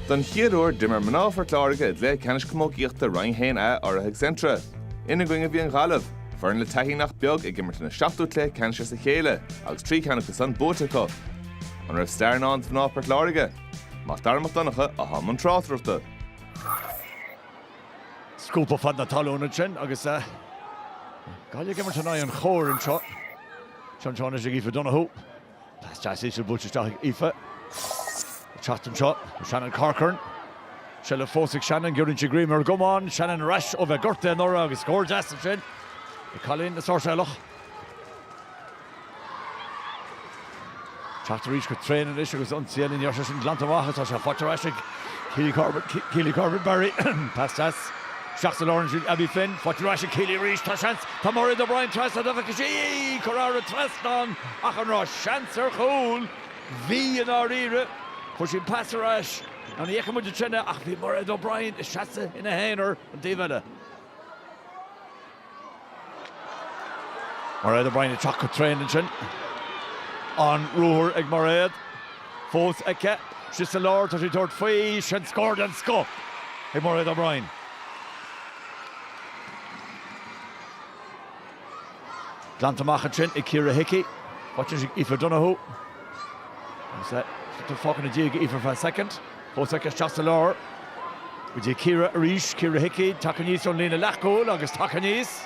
Don chéad uair, d'imir mná Phort Láirge i gcluiche ceannais camógaíochta Roinn 1A urraithe ag Centra. Ina gcoinne bhí an Ghaillimh, foireann le taithí nach beag ag imirt ina seachtú cluiche ceannais as a chéile agus trí cheann acu san buaite acu. An raibh stair i ndán do mhná Phort Láirge? Mac Dara Mac Donncha atá i mbun tráchtaireachta. Scuabtha fad na talún ansin agus Gaillimh ag imirt in aghaidh an chóir anseo. Seans anois ag Aoife Donohue. Pas deas íseal buailte isteach ag Aoife. Ag teacht anseo, Shannon Corcoran. Seilbh fós ag Shannon, giorraíonn sí greim ar an gcamán. Shannon ar ais ó bheith gortaithe anuraidh agus scór deas ansin ag cailín na Sáirséalach. Teacht arís go tréan anois agus ionsaí na nDéise glanta amach ach tá sé faighte ar ais ag Keely Corbett, Keely Corbett Barry, pas deas. Isteach sa lár ansin, Abby Flynn, faighte ar ais ag Keely arís, tá seans, tá Mairéad O'Brien trasna, dá bhfeicfeadh sí í, curtha thar an trasnán ach an raibh seans ar chúl? Bhí i ndáiríre, fuair sí an pas ar ais nó ní fheiceann muid ansin é ach bhí Mairéad O'Brien ag seasamh ina haonar an taobh eile. Mairéad O'Brien ag teacht go tréan ansin. An ruathar ag Mairéad fós aici. Sí sa lár, tá sí ag tabhairt faoi. Sin scór den scoth ag Mairéad O'Brien. Glanta amach ansin ag Ciara Hickey. Faighte ansin ag Aoife Donohue. Agus tá fágtha ina diaidh ag Aoife ar feadh soicind. Fós aici isteach sa lár. Go dtí Ciara arís. Ciara Hickey, tagtha aníos ón líne leathchúil agus tagtha aníos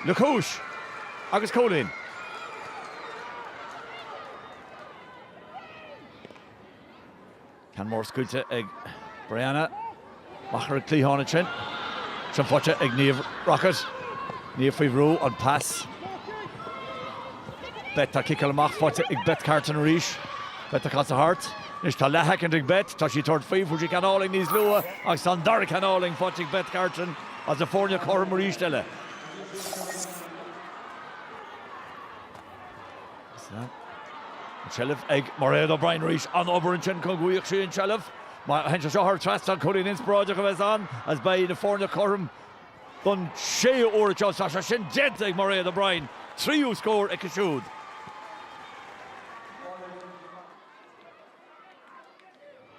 le cúis agus cúilín. Ceann mór scaoilte ag Brianna. Amach ar an gcliathán ansin. Sin faighte ag Niamh Rockett. Niamh faoi bhrú, an pas. Beth á chiceáil amach, faighte ag Beth Carton arís. Beth ag casadh thart. Anois tá leathshoicind ag Beth, tá sí ag tabhairt faoi, fuair sí ceann álainn níos luaithe agus tá an dara ceann álainn faighte ag Beth Carton is na foirne cothrom arís eile. An tseilbh ag Mairéad O'Brien arís. An-obair ansin, go gcoinneodh sí an tseilbh. Má théann sé seo thar an trasnán, cúilín inspioráideach a bheas ann is beidh na foirne cothrom don séú uair anseo. Tá sé sin déanta ag Mairéad O'Brien, tríú scór aici siúd.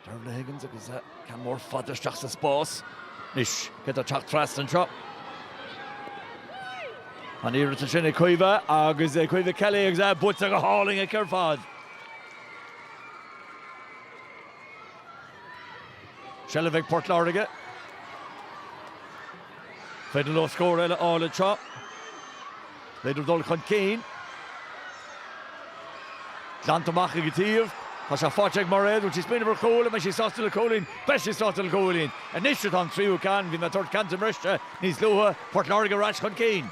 Dervla Higgins agus ceann mór fada isteach sa spás. Anois cé atá ag teacht trasna anseo? An-iarracht ansin ag Caoimhe agus é Caoimhe Kelly agus é buaite go hálainn aici ar fad. Seilbh ag Port Láirge. An féidir leo scór eile a fháil anseo. An féidir leo dul chun cinn. Glanta amach go dtí an taobh. Tá sé faighte ag Mairéad. Bhfuil sí ag smaoineamh ar chúl? An mbeidh sí sásta le cúilín? Beidh sí sásta le cúilín. Anois atá an tríú ceann. Bhí mé ag tabhairt ceann di ar briseadh níos luaithe. Port Láirge ar ais chun cinn.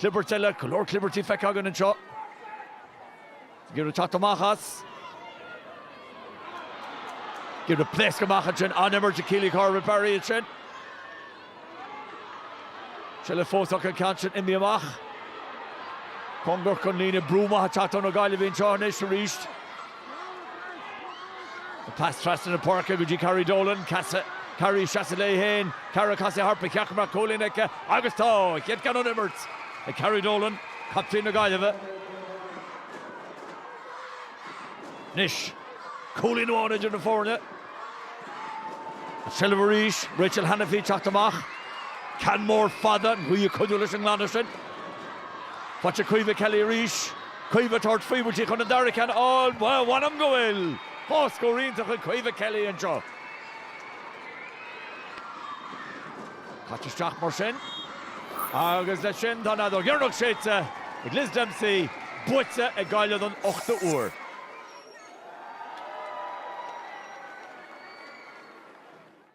Clibert eile, go leor clibertí feicthe againn anseo. Ag iarraidh teacht amach as. Ag iarraidh pléascadh amach ansin. An-imirt ag Keely Corbett Barry ansin. Seilbh fós acu, an ceann sin imithe amach. Cóngarach don líne, brú maith ag teacht ó na Gaillimhigh anseo anois arís. Pas trasna na páirce go dtí Carrie Dolan. Casadh Carrie isteach as léi féin. Carrie ag casadh thart, ba cheart go mbeadh cúilín aici agus tá! A chéad ceann ón imirt ag Carrie Dolan, captaen na Gaillimhe. Anois, cúilín amháin idir na foirne. An seilbh arís, Rachel Hanniffy ag teacht amach. Ceann mór fada, an ghaoth ag cuidiú leis an nglanadh sin. Faighte ag Caoimhe Kelly arís. Caoimhe ag tabhairt faoi, ab í atá chun an dara ceann a fháil. Bhuel, mh'anam go bhfuil dhá scór iontach ag Caoimhe Kelly anseo. Caite isteach mar sin. Agus leis sin, tá an fheadóg dheireanach séidte ag Liz Dempsey, buaite ag Gaillimh don ochtú huair.